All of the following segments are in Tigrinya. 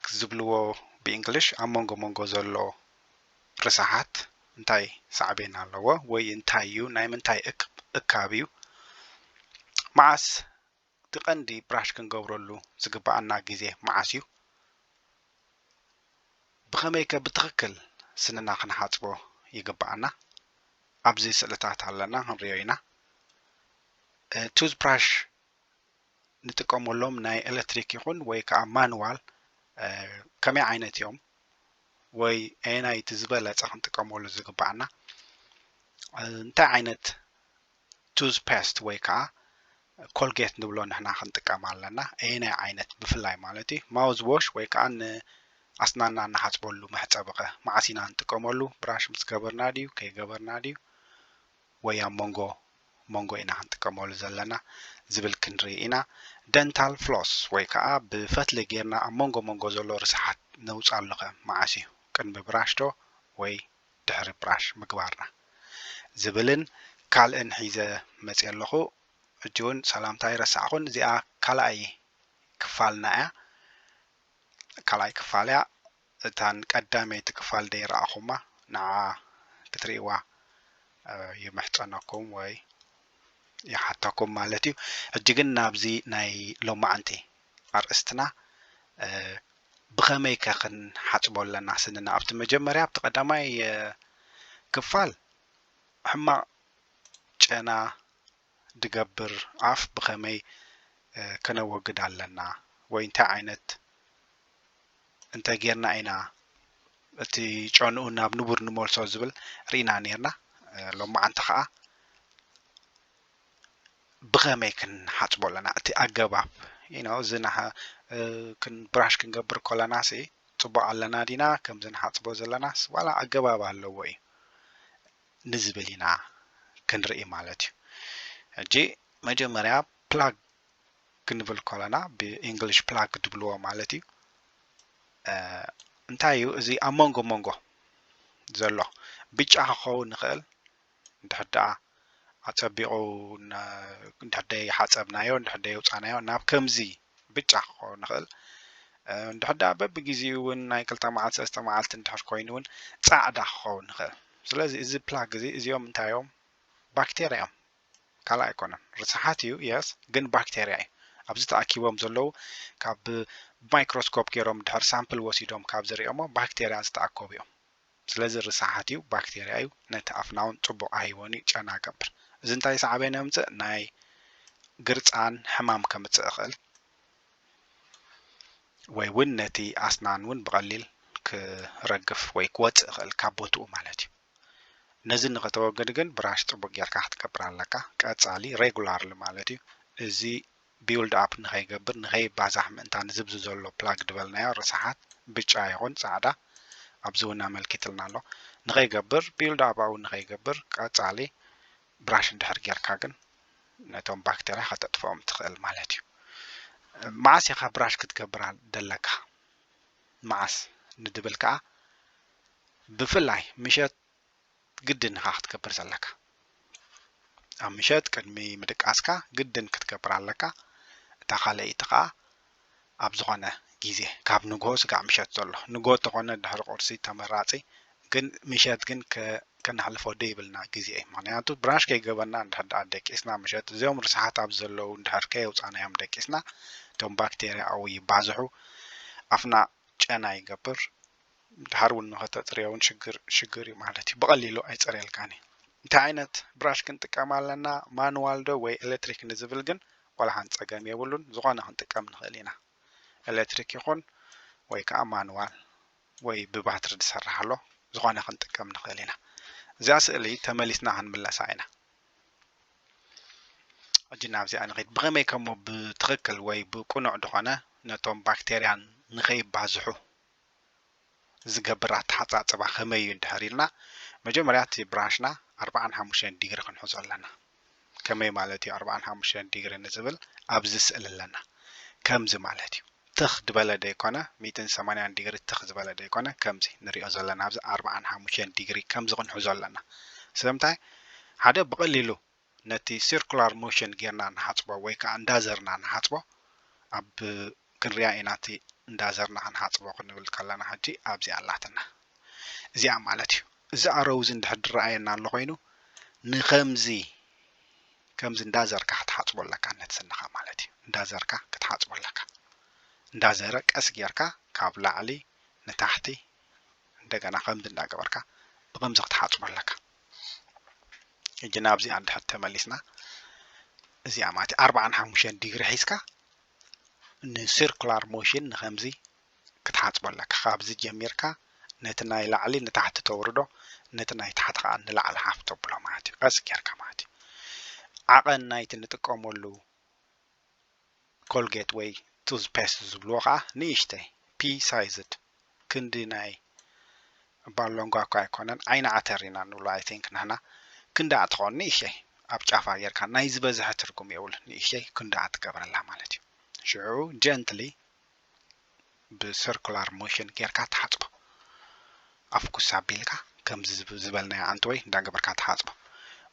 ሪስክ ዝብልዎ ብእንግሊሽ ኣብ መንጎ መንጎ ዘሎ ርሳሓት እንታይ ሳዕቤን ኣለዎ ወይ እንታይ እዩ ናይ ምንታይ እካብ እዩ መዓስ እቲ ቀንዲ ብራሽ ክንገብረሉ ዝግበኣና ግዜ መዓስ እዩ ብኸመይከ ብትኽክል ስንና ክንሓጽቦ ይግበኣና ኣብዚ ስእልታት ኣለና ክንሪኦ ኢና ቱዝ ብራሽ ንጥቀመሎም ናይ ኤለትሪክ ይኹን ወይ ከዓ ማንዋል ከመይ ዓይነት እዮም ወይ ኣየናይ እቲ ዝበለፀ ክንጥቀመሉ ዝግባኣና እንታይ ዓይነት ቱዝ ፔስት ወይ ከዓ ኮልጌት ንብሎ ንሕና ክንጥቀም ኣለና ኣየናይ ዓይነት ብፍላይ ማለት እዩ ማውዝ ዎሽ ወይ ከዓ ንኣስናና ንሓፅበሉ መሕፀቢ ኸ መዓስ ኢና ንጥቀመሉ ብራሽ ምስ ገበርና ድዩ ከይገበርና ድዩ ወይ ኣብ መንጎ መንጎ ኢና ክንጥቀመሉ ዘለና ዝብል ክንርኢ ኢና። ደንታል ፍሎስ ወይ ከኣ ብፈትሊ ጌርና ኣብ መንጎ መንጎ ዘሎ ርስሓት ነውጻሉኸ መዓስ እዩ? ቅድሚ ብራሽዶ ወይ ድሕሪ ብራሽ ምግባርና? ዝብልን ካልእን ሒዘ መጽየ ኣለኹ። ሕጂ ውን ሰላምታ ኣይረሳዕኹን። እዚኣ ካልኣይ ክፋልና እያ። ካልኣይ ክፋል እያ። እታን ቀዳመይቲ ክፋል ደይ ረኣኹማ ንዓ ክትሪእዋ ይምሕጸነኩም ወይ ይሓተኩም ማለት እዩ ሕጂ ግን ናብዚ ናይ ሎማዓንቲ ኣርእስትና ብኸመይ ከ ክንሓጽቦ ኣለና ስንና ኣብቲ መጀመርያ ኣብቲ ቀዳማይ ክፋል ሕማቕ ጨና ድገብር ኣፍ ብኸመይ ከነወግድ ኣለና ወይ እንታይ ዓይነት እንተ ጌርና ኢና እቲ ጨንኡ ናብ ንቡር ንመልሶ ዝብል ርኢና ኔርና ሎማዓንቲ ኸዓ ብኸመይ ክንሓፅቦ ኣለና እቲ ኣገባብ ኢኖ እዚ ብራሽ ክንገብር ከለና ሲ ፅቡቅ ኣለና ዲና ከምዚ ንሓፅቦ ዘለናስ ዋላ ኣገባብ ኣለዎ እዩ ንዝብል ኢና ክንርኢ ማለት እዩ ሕጂ መጀመርያ ፕላግ ክንብል ከለና ብእንግሊሽ ፕላግ ትብልዎ ማለት እዩ እንታይ እዩ እዚ ኣብ መንጎ መንጎ ዘሎ ብጫ ክኸውን ይኽእል እንድሕር ደኣ ኣጸቢቑ እንድሕር ደይ ሓጸብናዮ እንድሕር ደይ ውጻናዮ ናብ ከምዚ ብጫ ክኸውን ይኽእል እንድሕር ደኣ በብግዜኡ እውን ናይ ክልተ መዓልቲ ሰለስተ መዓልቲ እንድሕር ኮይኑ እውን ጻዕዳ ክኸውን ይኽእል ስለዚ እዚ ፕላግ እዚ እዚኦም እንታይ እዮም ባክቴርያ እዮም ካልእ ኣይኮነን ርስሓት እዩ የስ ግን ባክቴርያ እዩ ኣብዚ ተኣኪቦም ዘለዉ ካብ ማይክሮስኮፕ ገይሮም ድሕር ሳምፕል ወሲዶም ካብ ዝሪኦሞ ባክቴርያ ዝተኣከቡ እዮም ስለዚ ርስሓት እዩ ባክተርያ እዩ ነቲ ኣፍናውን ጽቡቕ ኣይህቦን እዩ ጨና ገብር እዚ እንታይ ሳዕቤን የምጽእ ናይ ግርጻን ሕማም ከምጽእ ይኽእል ወይ ውን ነቲ ኣስናን ውን ብቐሊል ክረግፍ ወይ ክወጽእ ይኽእል ካብ ቦትኡ ማለት እዩ ነዚ ንኸተወግድ ግን ብራሽ ጽቡቕ ጌርካ ክትገብር ኣለካ ቀጻሊ ሬጉላርሊ ማለት እዩ እዚ ቢውልድ ኣፕ ንኸይገብር ንኸይባዛሕ ምእንታን እዚ ኣብዚ ዘሎ ፕላግ ድበልናዮ ርሳሓት ብጫ ይኹን ጻዕዳ ኣብዚ ውን ኣመልኪትልና ኣሎ ንኸይገብር ቢውልድ ኣፕ ኣብኡ ንኸይገብር ቀጻሊ ብራሽ እንድሕር ጌርካ ግን ነቶም ባክተርያ ከተጥፍኦም ትኽእል ማለት እዩ መዓስ ኢኻ ብራሽ ክትገብር ደለካ መዓስ ንድብል ከኣ ብፍላይ ምሸት ግድን ኢኻ ክትገብር ዘለካ ኣብ ምሸት ቅድሚ ምድቃስካ ግድን ክትገብር ኣለካ እታ ካልኣይቲ ከዓ ኣብ ዝኾነ ግዜ ካብ ንግሆ ስጋዕ ምሸት ዘሎ ንግሆ ተኾነ ድሕሪ ቁርሲ ተመራፂ ግን ምሸት ግን ከነሕልፎ ደይብልና ግዜ እዩ ምክንያቱ ብራሽ ከይገበርና እንድሕር ድኣ ደቂስና ምሸት እዚኦም ርስሓት ኣብ ዘለዉ እንድሕር ከየውፃናዮም ደቂስና እቶም ባክቴርያ ኣብኡ ይባዝሑ ኣፍና ጨና ይገብር ድሓር ውን ንኸተጽርዮ ውን ሽግር ሽግር ዩ ማለት ዩ ብቐሊሉ ኣይጸርየልካን ዩ እንታይ ዓይነት ብራሽ ክንጥቀም ኣለና ማንዋል ዶ ወይ ኤለትሪክ ንዝብል ግን ዋላ ሓንቲ ጸገም የብሉን ዝኾነ ክንጥቀም ንኽእል ኢና ኤለትሪክ ይኹን ወይ ከኣ ማንዋል ወይ ብባትሪ ዝሰርሕ ኣሎ ዝኾነ ክንጥቀም ንኽእል ኢና እዚኣ ስእሊ ተመሊስና ክንምለሳ ኢና ሕጂ ናብዚኣ ንኸይድ ብኸመይ ከሞ ብትኽክል ወይ ብቅኑዕ ዝኾነ ነቶም ባክቴርያን ንኸይባዝሑ ዝገብር ኣተሓጻጽባ ከመይ እዩ እንድሕር ኢልና መጀመርያ እቲ ብራንሽና ኣርብዓን ሓሙሽተን ዲግሪ ክንሕዞ ኣለና ከመይ ማለት እዩ ኣርብዓን ሓሙሽተን ዲግሪ ንዝብል ኣብዚ ስእሊ ኣለና ከምዚ ማለት እዩ ትኽ ድበለ ደይኮነ ሚእትን ሰማንያን ዲግሪ ትኽ ዝበለ ደይኮነ ከምዚ ንሪኦ ዘለና ኣብዚ ኣርብዓን ሓሙሽተን ዲግሪ ከምዚ ክንሕዞ ኣለና ስለምንታይ ሓደ ብቐሊሉ ነቲ ሲርኩላር ሞሽን ጌርና ንሓጽቦ ወይ ከኣ እንዳዘርና ንሓጽቦ ኣብ ክንሪኣ ኢና እቲ እንዳዘርና ክንሓጽቦ ክንብል ከለና ሕጂ ኣብዚ ኣላትና እዚኣ ማለት እዩ እዚ ኣሮው እዚ እንድሕር ድረኣየና ኣሎ ኮይኑ ንከምዚ ከምዚ እንዳዘርካ ክትሓጽቦ ኣለካ ነቲ ስንኻ ማለት እዩ እንዳዘርካ ክትሓጽቦ ኣለካ እንዳዘረ ቀስ ጌርካ ካብ ላዕሊ ንታሕቲ እንደገና ከምዚ እንዳገበርካ ብከምዚ ክትሓጽቦ ኣለካ ሕጂ ናብዚኣ እንድሕር ተመሊስና እዚኣ ማለት እዩ ኣርባዓን ሓሙሽተን ዲግሪ ሒዝካ ንሲርኩላር ሞሽን ንከምዚ ክትሓፅቦ ኣለካ ካብዚ ጀሚርካ ነቲ ናይ ላዕሊ ንታሕቲ ተውርዶ ነቲ ናይ ታሕቲ ከዓ ንላዕሊ ሓፍ ተብሎ ማለት እዩ ቀስ ጌርካ ማለት እዩ ዓቐን ናይቲ ንጥቀመሉ ኮልጌት ወይ ቱዝ ፔስት ዝብልዎ ከኣ ንእሽተይ ፒ ሳይዝድ ክንዲ ናይ እባ ሎንጓ እኳ ኣይኮነን ዓይኒ ዓተር ኢና ንብሎ ኣይ ቲንክ ንሕና ክንድኣ ትኸውን ንእሽተይ ኣብ ጫፋ ጌርካ ናይ ዝበዝሐ ትርጉም የብሉን ንእሽተይ ክንድኣ ትገብረላ ማለት እዩ ሽዑ ጀንትሊ ብስርኩላር ሞሽን ጌርካ ትሓጽቦ ኣፍ ኩስ ኣቢልካ ከምዚ ዝበልናዮ ኣንተወይ እንዳገበርካ ትሓጽቦ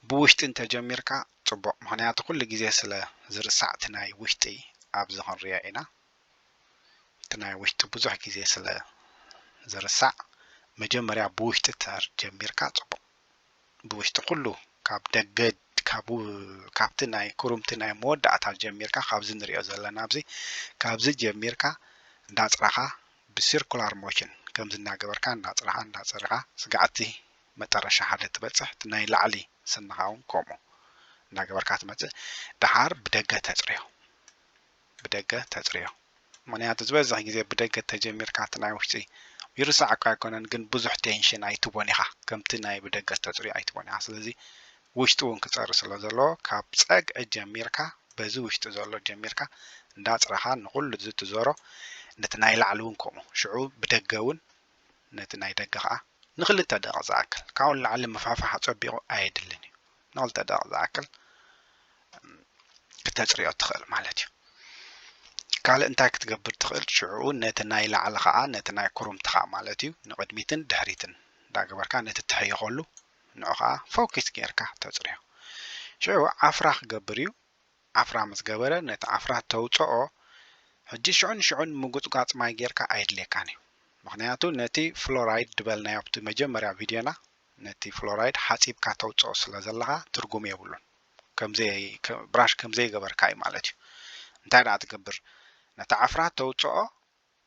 ብውሽጢ እንተ ጀሚርካ ጽቡቅ ምክንያቱ ኩሉ ግዜ ስለ ዝርሳዕ እቲ ናይ ውሽጢ ኣብዚ ክንሪኦ ኢና እቲ ናይ ውሽጢ ብዙሕ ግዜ ስለ ዝርሳዕ መጀመርያ ብውሽጢ ተር ጀሚርካ ጽቡቅ ብውሽጢ ኩሉ ካብ ደገ ካብ ካብቲ ናይ ኩሩምቲ ናይ መወዳእታ ጀሚርካ ካብዚ ንሪኦ ዘለና ኣብዚ ካብዚ ጀሚርካ እንዳጽራኻ ብሲርኩላር ሞሽን ከምዚ እንዳገበርካ እንዳጽራኻ እንዳጸርኻ ስጋዕ እቲ መጠረሻ ሓደ ትበጽሕ እቲ ናይ ላዕሊ ስንኻ ውን ከምኡ እንዳገበርካ ትመጽእ ድሓር ብደገ ተጽርዮ። ብደገ ተጽርዮ ምክንያቱ ዝበዝሕ ግዜ ብደገ ተጀሚርካ እቲ ናይ ውሽጢ ይርሳዕ እኳ ኣይኮነን ግን ብዙሕ ቴንሽን ኣይትቦን ኢካ ከምቲ ናይ ብደገ ዝተጽርዮ ኣይትቦን ኢካ ስለዚ ውሽጢ ውን ክጸሪ ስለ ዘለዎ ካብ ጸግዒ ጀሚርካ በዚ ውሽጢ ዘሎ ጀሚርካ እንዳ ኣጽረካ ንኩሉ እዚ ትዞሮ ነቲ ናይ ላዕሊ ውን ከምኡ ሽዑ ብደገ ውን ነቲ ናይ ደገ ከኣ ንክልተ ደቂቅ ዝኣክል ካብኡ ንላዕሊ ምፋፋሕ ኣጸቢቁ ኣየድልን እዩ ንክልተ ደቂቅ ዝኣክል ክተጽርዮ ትኽእል ማለት እዩ። ካልእ እንታይ ክትገብር ትኽእል ሽዑ ነቲ ናይ ላዕሊ ከዓ ነቲ ናይ ኩርምትኻ ማለት እዩ ንቕድሚትን ድሕሪትን እንዳገበርካ ነቲ ትሕይኸሉ ንዑ ከዓ ፎኪስ ጌርካ ተፅርዮ ሽዑ ዓፍራ ክገብር እዩ ዓፍራ ምስ ገበረ ነቲ ዓፍራ ተውፅኦ ሕጂ ሽዑ ንሽዑ ንምጉፅጓፅ ማይ ጌርካ ኣየድልየካን እዩ ምክንያቱ ነቲ ፍሎራይድ ድበልናዮ ኣብቲ መጀመርያ ቪድዮና ነቲ ፍሎራይድ ሓጺብካ ተውጽኦ ስለ ዘለኻ ትርጉም የብሉን ከምዘይ ብራሽ ከምዘይገበርካ እዩ ማለት እዩ እንታይ ደኣ ትገብር ነቲ ዓፍራ ተውጽኦ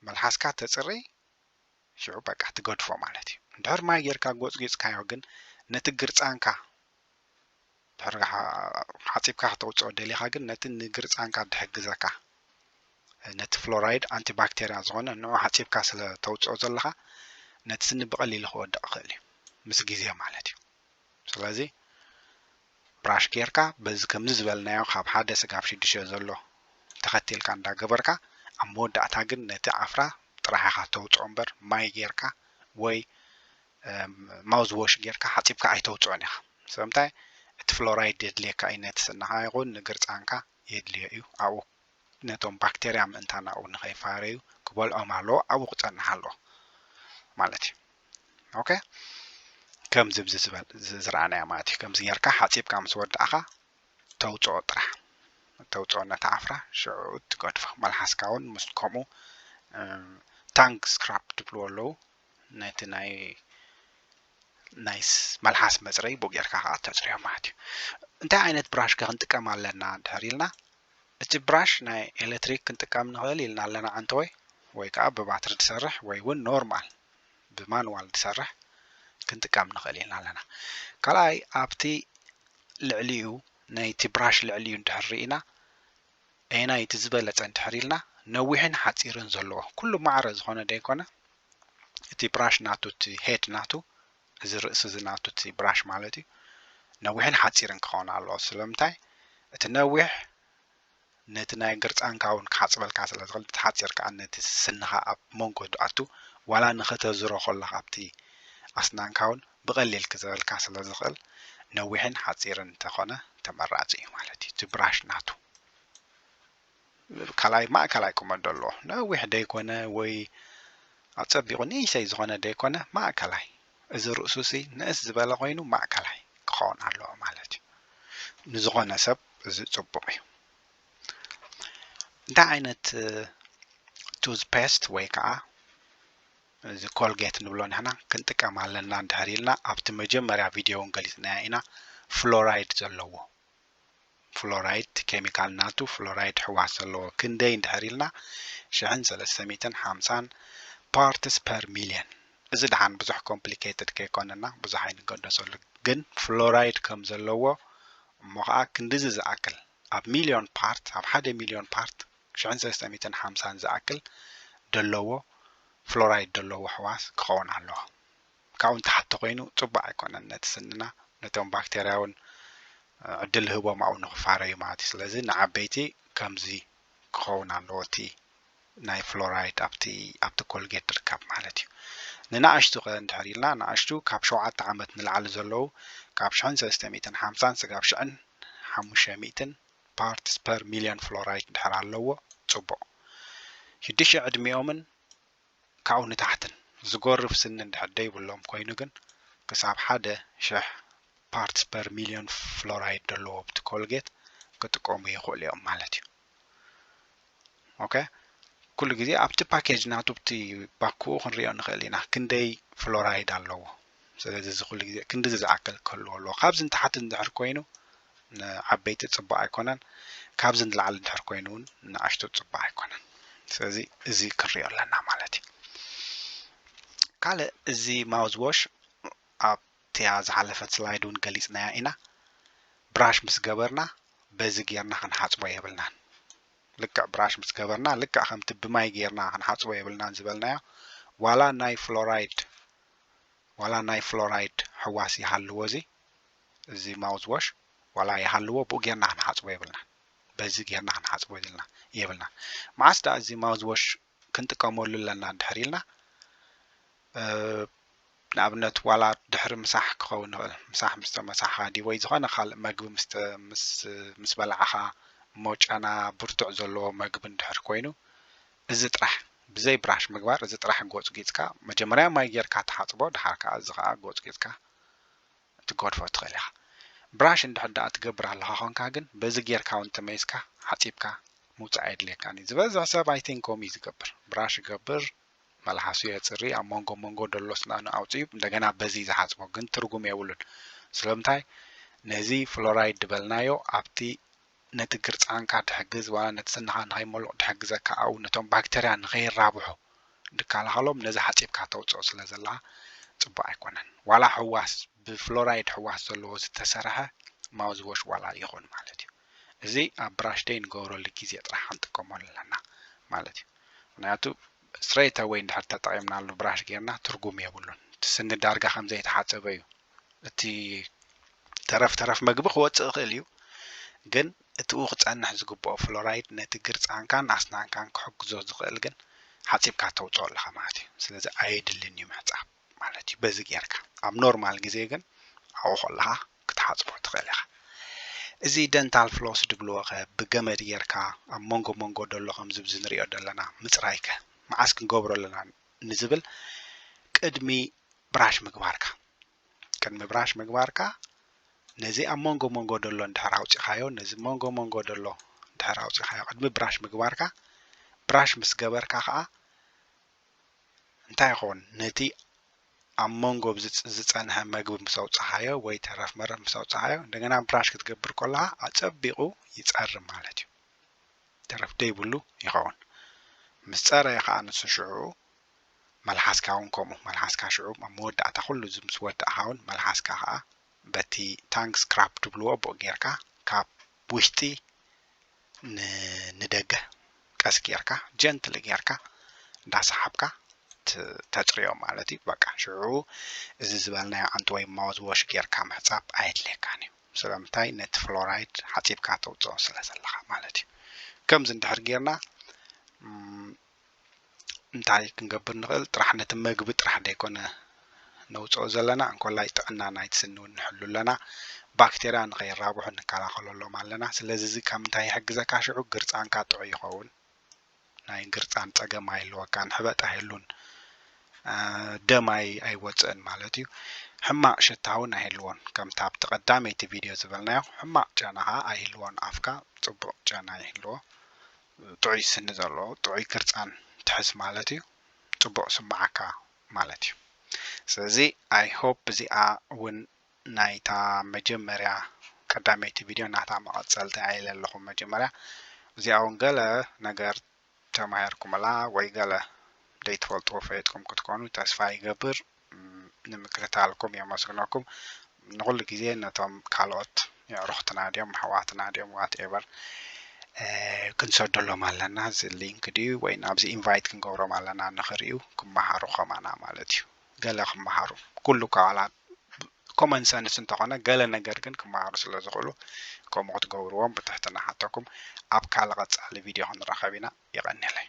መልሓስካ ተጽርይ ሽዑ በቃ ትገድፎ ማለት እዩ እንድሕር ማይ ጌርካ ጎጽጊጽካዮ ግን ነቲ ግርጻንካ ድሕሪ ሓጺብካ ከተውጽኦ ደሊኻ ግን ነቲ ንግርጻንካ ድሕግዘካ ነቲ ፍሎራይድ ኣንቲባክቴርያ ዝኾነ ንዑ ሓጺብካ ስለ ተውጽኦ ዘለኻ ነቲ ስኒ ብቐሊሉ ክወድቕ ይኽእል እዩ ምስ ግዜ ማለት እዩ ስለዚ ብራሽ ጌርካ በዚ ከምዚ ዝበልናዮ ካብ ሓደ ስጋብ ሽዱሽተ ዘሎ ተኸቲልካ እንዳገበርካ ኣብ መወዳእታ ግን ነቲ ዓፍራ ጥራሕ ኢኻ ተውፅኦ እምበር ማይ ጌርካ ወይ ማውዝ ዎሽ ጌርካ ሓጺብካ ኣይተውጽኦን ኢኻ ስለምንታይ እቲ ፍሎራይድ የድልየካ እዩ ነቲ ስንኻ ይኹን ንግርጻንካ የድልዮ እዩ ኣብኡ ነቶም ባክተርያ ምእንታን ኣብኡ ንኸይፋረዩ ክበልዖም ኣለዎ ኣብኡ ክጸንሕ ኣለዎ ማለት እዩ ኦኬ ከምዚ ብዚ ዝበል ዝረኣናዮ ማለት እዩ ከምዚ ጌርካ ሓፂብካ ምስ ወዳእኻ ተውፅኦ ጥራሕ ተውፅኦ ነታ ዓፍራ ሽዑኡ ትገድፎ መልሓስካ እውን ምስ ከምኡ ታንግ ስክራፕ ትብልዎ ኣለዉ ነቲ ናይ ናይስ መልሓስ መጽረይ ቡእ ጌርካ ከኣ ተጽርዮ ማለት እዩ እንታይ ዓይነት ብራሽ ከ ክንጥቀም ኣለና እንድሕር ኢልና እቲ ብራሽ ናይ ኤሌክትሪክ ክንጥቀም ንኽእል ኢልና ኣለና ዓንተወይ ወይ ከዓ ብባትሪ ዝሰርሕ ወይ እውን ኖርማል ብማንዋል ዝሰርሕ ክንጥቀም ንኽእል ኢልና ኣለና ካልኣይ ኣብቲ ልዕሊኡ ናይቲ ብራሽ ልዕሊኡ እንድሕር ርኢና ኣየናይ እቲ ዝበለጸ እንድሕር ኢልና ነዊሕን ሓጺርን ዘለዎ ኩሉ ማዕረ ዝኾነ ደይኮነ እቲ ብራሽ ናቱ እቲ ሄድ ናቱ እዚ ርእሲ እዚ ናቱ እቲ ብራሽ ማለት እዩ ነዊሕን ሓጺርን ክኸውን ኣለዎ ስለምንታይ እቲ ነዊሕ ነቲ ናይ ግርጻንካ እውን ክሓጽበልካ ስለ ዝኽእል እቲ ሓጺር ከዓ ነቲ ስስንኻ ኣብ መንጎ ኣቱ ዋላ ንኸተዝሮ ከለኻ ኣብቲ ኣስናንካ እውን ብቐሊል ክዝረልካ ስለ ዝኽእል ነዊሕን ሓጺርን እንተኾነ ተመራጺ እዩ ማለት እዩ እቲ ብራሽ ናቱ ካልኣይ ማእከላይ ቁመት ደለዎ ነዊሕ ደይኮነ ወይ ኣጸቢቑ ንእሽተይ ዝኾነ ደይኮነ ማእከላይ እዚ ርእሱሲ ንእስ ዝበለ ኮይኑ ማእከላይ ክኸውን ኣለዎ ማለት እዩ ንዝኾነ ሰብ እዚ ጽቡቕ እዩ እንታይ ዓይነት ቱዝ ፔስት ወይ ከዓ እዚ ኮልጌት ንብሎ ንሕና ክንጥቀም ኣለና እንድሕር ኢልና ኣብቲ መጀመርያ ቪድዮ እውን ገሊፅናዮ ኢና ፍሎራይድ ዘለዎ ፍሎራይድ እቲ ኬሚካል ናቱ ፍሎራይድ ሕዋስ ዘለዎ ክንደይ እንድሕር ኢልና ሽሕን ሰለስተ ሚእትን ሓምሳን ፓርትስ ፐር ሚልየን እዚ ድሓን ብዙሕ ኮምፕሊኬትድ ከይኮነና ብዙሕ ኣይንገደሰሉ ግን ፍሎራይድ ከም ዘለዎ እሞ ከዓ ክንድዚ ዝኣክል ኣብ ሚልዮን ፓርት ኣብ ሓደ ሚልዮን ፓርት ሽሕን ሰለስተ ሚእትን ሓምሳን ዝኣክል ደለዎ ፍሎራይድ ደለዎ ሕዋስ ክኸውን ኣለዎ ካብኡ ንታሕቲ ተኾይኑ ጽቡቅ ኣይኮነን ነቲ ስንና ነቶም ባክተርያ ውን ዕድል ይህቦም ኣብኡ ንኽፋረዩ ማለት እዩ ስለዚ ንዓበይቲ ከምዚ ክኸውን ኣለዎ እቲ ናይ ፍሎራይድ ኣብቲ ኣብቲ ኮልጌት ድርካብ ማለት እዩ ንናኣሽቱ ከ እንድሕር ኢልና ናኣሽቱ ካብ ሸውዓተ ዓመት ንላዕሊ ዘለው ካብ ሽሕን ሰለስተ ሚእትን ሓምሳን ስጋብ ሽሕን ሓሙሽተ ሚእትን ፓርትስ ፐር ሚልዮን ፍሎራይድ እንድሕር ኣለዎ ጽቡቅ ሽዱሽተ ዕድሚኦምን ካብኡ ንታሕትን ዝጎርፍ ስኒ እንድሕር ደይብሎም ኮይኑ ግን ክሳብ ሓደ ሽሕ ፓርትስ ፐር ሚልዮን ፍሎራይድ ደለዎ ኣብቲ ኮልጌት ክጥቀሙ ይክእሉ እዮም ማለት እዩ። ኦከ ኩሉ ግዜ ኣብቲ ፓኬጅ ናቱ ብቲ ባክኡ ክንሪኦ ንኽእል ኢና ክንደይ ፍሎራይድ ኣለዎ ስለዚ እዚ ኩሉ ግዜ ክንዲዚ ዝኣክል ክህልዎ ኣለዎ ካብዚ ንታሕቲ እንድሕር ኮይኑ ንዓበይቲ ፅቡቅ ኣይኮነን ካብዚ ንላዕሊ እንድሕር ኮይኑ እውን ንኣሽቱ ፅቡቅ ኣይኮነን ስለዚ እዚ ክንሪኦ ኣለና ማለት እዩ ካልእ እዚ ማውዝ ዎሽ ኣብ ኣብቲኣ ዝሓለፈት ስላይድ ውን ገሊጽናያ ኢና ብራሽ ምስ ገበርና በዚ ጌርና ክንሓጽቦ የብልናን ልክዕ ብራሽ ምስ ገበርና ልክዕ ከምቲ ብማይ ጌርና ክንሓጽቦ የብልናን ዝበልናዮ ዋላ ናይ ፍሎራይድ ዋላ ናይ ፍሎራይድ ሕዋስ ይሃልዎ እዚ እዚ ማውዝ ዎሽ ዋላ ይሃልዎ ብኡ ጌርና ክንሓጽቦ የብልናን በዚ ጌርና ክንሓጽቦ ኢልና የብልና መዓስ ደኣ እዚ ማውዝ ዎሽ ክንጥቀመሉ ኣለና ድሕር ኢልና ንኣብነት ዋላ ድሕሪ ምሳሕ ክኸውን ይኽእል ምሳሕ ምስ ተመሳሕኻ ድዩ ወይ ዝኾነ ካልእ መግቢ ምስ በላዕኻ እሞ ጨና ብርቱዕ ዘለዎ መግቢ እንድሕር ኮይኑ እዚ ጥራሕ ብዘይ ብራሽ ምግባር እዚ ጥራሕ ጎጽጊጽካ መጀመርያ ማይ ጌርካ ትሓጽቦ ድሓር ከኣ እዚ ከኣ ጎጽጊጽካ ትገድፎ ትኽእል ኢኻ ብራሽ እንድሕር ደኣ ትገብር ኣለኻ ኮንካ ግን በዚ ጌርካ እውን ተመይስካ ሓጺብካ ምውጻእ ኣየድልየካን እዩ ዝበዝሕ ሰብ ኣይቲንክ ከምኡ እዩ ዝገብር ብራሽ ይገብር መልሓሱ የጽሪ ኣብ መንጎ መንጎ ደሎ ስናኑ ኣውጺኡ እንደገና በዚ ዝሓጽቦ ግን ትርጉም የብሉን ስለምንታይ ነዚ ፍሎራይድ ድበልናዮ ኣብቲ ነቲ ግርጻንካ ድሕግዝ ዋላ ነቲ ስንኻ ንኸይሞሉቕ ድሕግዘካ ኣብኡ ነቶም ባክተርያ ንኸይራብሑ ድከላኸሎም ነዚ ሓጺብካ ተውጽኦ ስለ ዘለኻ ጽቡቅ ኣይኮነን ዋላ ሕዋስ ብፍሎራይድ ሕዋስ ዘለዎ ዝተሰርሐ ማውዝዎሽ ዋላ ይኹን ማለት እዩ እዚ ኣብ ብራሽደይ ንገብረሉ ግዜ ጥራሕ ክንጥቀመሉ ኣለና ማለት እዩ ምክንያቱ ስትረይት ኣወይ እንድሕር ተጠቒምናሉ ብራሽ ጌርና ትርጉም የብሉን እቲ ስኒ ዳርጋ ከም ዘይተሓጸበ እዩ እቲ ተረፍ ተረፍ መግቢ ክወጽእ ይኽእል እዩ ግን እቲኡ ክጸንሕ ዝግብኦ ፍሎራይድ ነቲ ግርጻንካን ኣስናንካን ክሕግዞ ዝኽእል ግን ሓጺብካ ተውጽኦ ኣለኻ ማለት እዩ ስለዚ ኣየድልን እዩ ምሕጻብ ማለት እዩ በዚ ጌርካ ኣብ ኖርማል ግዜ ግን ኣብኡ ከለኻ ክትሓጽቦ ትኽእል ኢኻ እዚ ደንታል ፍሎስ ድብልዎ ከ ብገመድ ጌርካ ኣብ መንጎ መንጎ ደሎ ከምዚ ብዚ ንሪኦ ደለና ምጽራይ ከ መዓስ ክንገብሮ ኣለና ንዝብል ቅድሚ ብራሽ ምግባርካ ቅድሚ ብራሽ ምግባርካ ነዚ ኣብ መንጎ መንጎ ደሎ እንድሕር ኣውጺኻዮ ነዚ መንጎ መንጎ ደሎ እንድሕር ኣውጺኻዮ ቅድሚ ብራሽ ምግባርካ ብራሽ ምስ ገበርካ ከኣ እንታይ ኾን ነቲ ኣብ መንጎ ብዝጽ ዝጸንሐ መግቢ ምስ ኣውጻኻዮ ወይ ተረፍ መረፍ ምስ ኣውጻኻዮ እንደገና ብራሽ ክትገብር ኮለኻ ኣጸቢቑ ይጸሪ ማለት እዩ ተረፍ ደይብሉ ይኸውን ምስ ጸረየ ኸኣ ንሱ ሽዑ መልሓስካ እውን ከምኡ መልሓስካ ሽዑ ኣብ መወዳእታ ኩሉ እዚ ምስ ወዳእኻ እውን መልሓስካ ኸኣ በቲ ታንግ ስክራፕ ትብልዎ ብኡ ጌርካ ካብ ውሽጢ ንደገ ቀስ ጌርካ ጀንትሊ ጌርካ እንዳሰሓብካ ተጽርዮ ማለት እዩ በቃ ሽዑ እዚ ዝበልናዮ ዓንት ወይ ማውዝ ዎሽ ጌርካ ምሕጻብ ኣየድልየካን እዩ ስለምንታይ ነቲ ፍሎራይድ ሓጺብካ ተውጽኦ ስለ ዘለኻ ማለት እዩ ከምዚ እንድሕር ጌርና እንታይ ክንገብር ንኽእል ጥራሕ ነቲ መግቢ ጥራሕ ዘይኮነ ነውፅኦ ዘለና እንኮላይ ጥዕና ናይቲ ስኒ እውን ንሕሉ ኣለና ባክቴርያ ንኸይራብሑ ንከላኸለሎም ኣለና ስለዚ እዚ ካብ ምንታይ ይሕግዘካ ሽዑ ግርፃንካ ጥዑይ ይኸውን ናይ ግርፃን ፀገም ኣይህልወካን ሕበጥ ኣይህሉን ደም ኣይወፅእን ማለት እዩ ሕማቅ ሽታ እውን ኣይህልዎን ከምቲ ኣብቲ ቀዳመይቲ ቪድዮ ዝበልናዮ ሕማቅ ጨና ከዓ ኣይህልዎን ኣፍካ ፅቡቅ ጨና ይህልዎ ጥዑይ ስኒ ዘለዎ ጥዑይ ክርጻን ትሕዝ ማለት እዩ ጽቡቅ ስማዓካ ማለት እዩ ስለዚ ኣይ ሆፕ እዚኣ ውን ናይታ መጀመርያ ቀዳመይቲ ቪድዮ ናታ መቀጸልቲ ኣኢለ ኣለኹ መጀመርያ እዚኣ ውን ገለ ነገር ተማሂርኩምላ ወይ ገለ ደይትፈልጥዎ ፈሊጥኩም ክትኮኑ ተስፋ ይገብር ንምክትታልኩም የመስግነኩም ንኩሉ ግዜ ነቶም ካልኦት የዕሩክትና ድዮም ኣሕዋትና ድዮም ዋት ኤቨር ክንሰደሎም ኣለና እዚ ሊንክ ድዩ ወይ ናብዚ ኢንቫይት ክንገብሮም ኣለና ንክርእዩ ክመሃሩ ከማና ማለት እዩ ገለ ክመሃሩ ኩሉ እኳ ዋላ ኮመን ሰንስ እንተኾነ ገለ ነገር ግን ክመሃሩ ስለ ዝኽእሉ ከምኡ ክትገብርዎም ብትሕትና ሓተኩም ኣብ ካልእ ቀጻሊ ቪድዮ ክንራኸብ ኢና የቐንየለይ